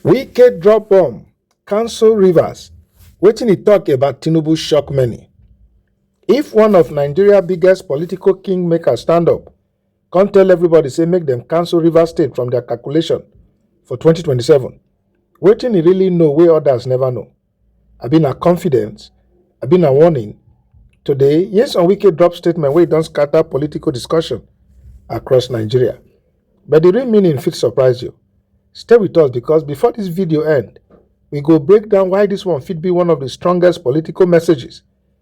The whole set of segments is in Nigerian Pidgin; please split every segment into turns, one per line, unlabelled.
wike drop bomb cancel rivers wetin e tok about tinubu shock many if one of nigeria biggest political kingmaker stand up come tell everybody say make dem cancel rivers state from dia calculation for 2027 wetin e really know wey odas neva know Abi na confidence? Abi na warning? Today, Nyesom Wike drop statement wey don scatter political discussion across Nigeria. But the real meaning fit surprise you. Stay with us because before this video end, we go break down why this one fit be one of the strongest political messages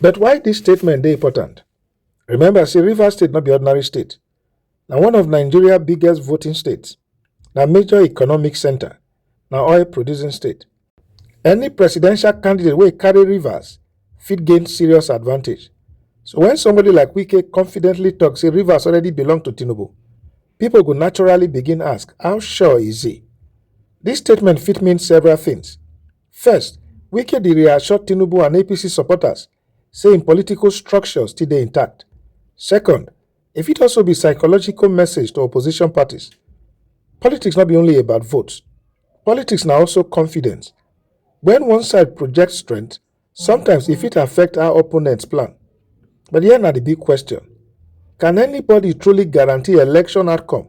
But why this statement dey important? Remember say River State not be ordinary state. Now one of Nigeria biggest voting states. Now major economic center. Now oil producing state. Any presidential candidate wey carry Rivers fit gain serious advantage. So when somebody like Wike confidently talks, say Rivers already belong to Tinubu, people go naturally begin ask, how sure is he? This statement fit mean several things. First, Wike dey reassure Tinubu and APC supporters say im political structure still dey intact. Second, e fit also be psychological message to opposition parties. Politics no be only about votes, politics na also confidence. When one side project strength, sometimes e fit affect how opponents plan. But here na the big question, can anybody truly guarantee election outcome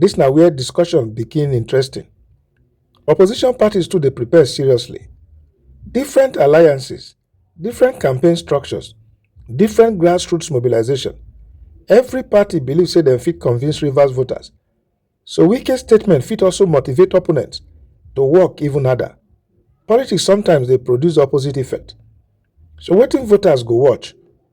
Dis na where discussion begin interesting. Opposition parties too dey prepare seriously. Different alliances, different campaign structures, different grassroots mobilization. Every party believe say dem fit convince Rivers voters. So Wike's statement fit also motivate opponents to work even harder. Politics sometimes dey produce opposite effect. So wetin voters go watch?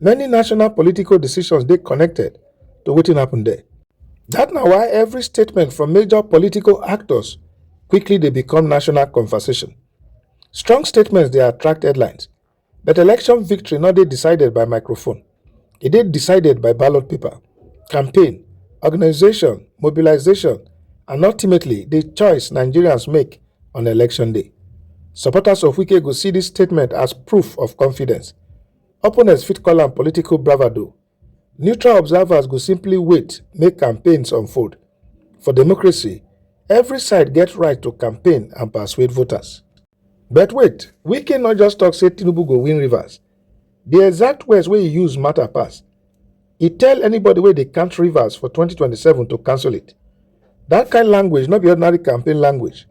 Many national political decisions dey connected to wetin happen there. That na why every statement from major political actors quickly dey become national conversation. Strong statements dey attract headlines, but election victory no dey decided by microphone. E dey decided by ballot paper, campaign, organization, mobilization, and ultimately the choice Nigerians make on election day. Supporters of Wike go see this statement as proof of confidence. Opponents fit call am political bravado, neutral observers go simply wait make campaigns unfold. For democracy, every side get right to campaign and persuade voters. But wait, Wike not just talk say Tinubu go win Rivers. The exact words wey he use matter pass. He tell anybody wey dey count Rivers for 2027 to cancel it. That kind language no be ordinary campaign language.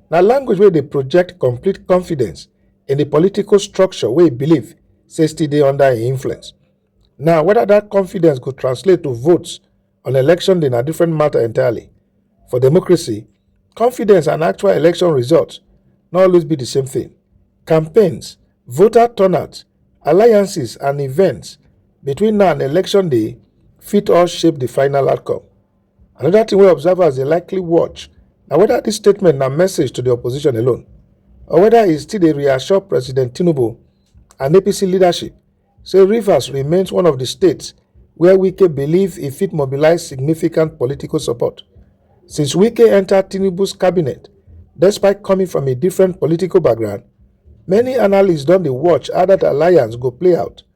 na language wey dey project complete confidence in di political structure wey e believe say still dey under im influence. Now, whether that confidence go translate to votes on election day na different matter entirely. For democracy, confidence and actual election results no always be the same thing. Campaigns, voter turnout, alliances, and events between now and election day fit all shape the final outcome. Another thing wey observers dey likely watch na whether this statement na message to the opposition alone or whether e still dey reassure President Tinubu and APC leadership say Rivers remains one of the states where Wike believe e fit mobilize significant political support. Since Wike enter Tinubu's cabinet, despite coming from a different political background, many analysts don dey watch how that alliance go play out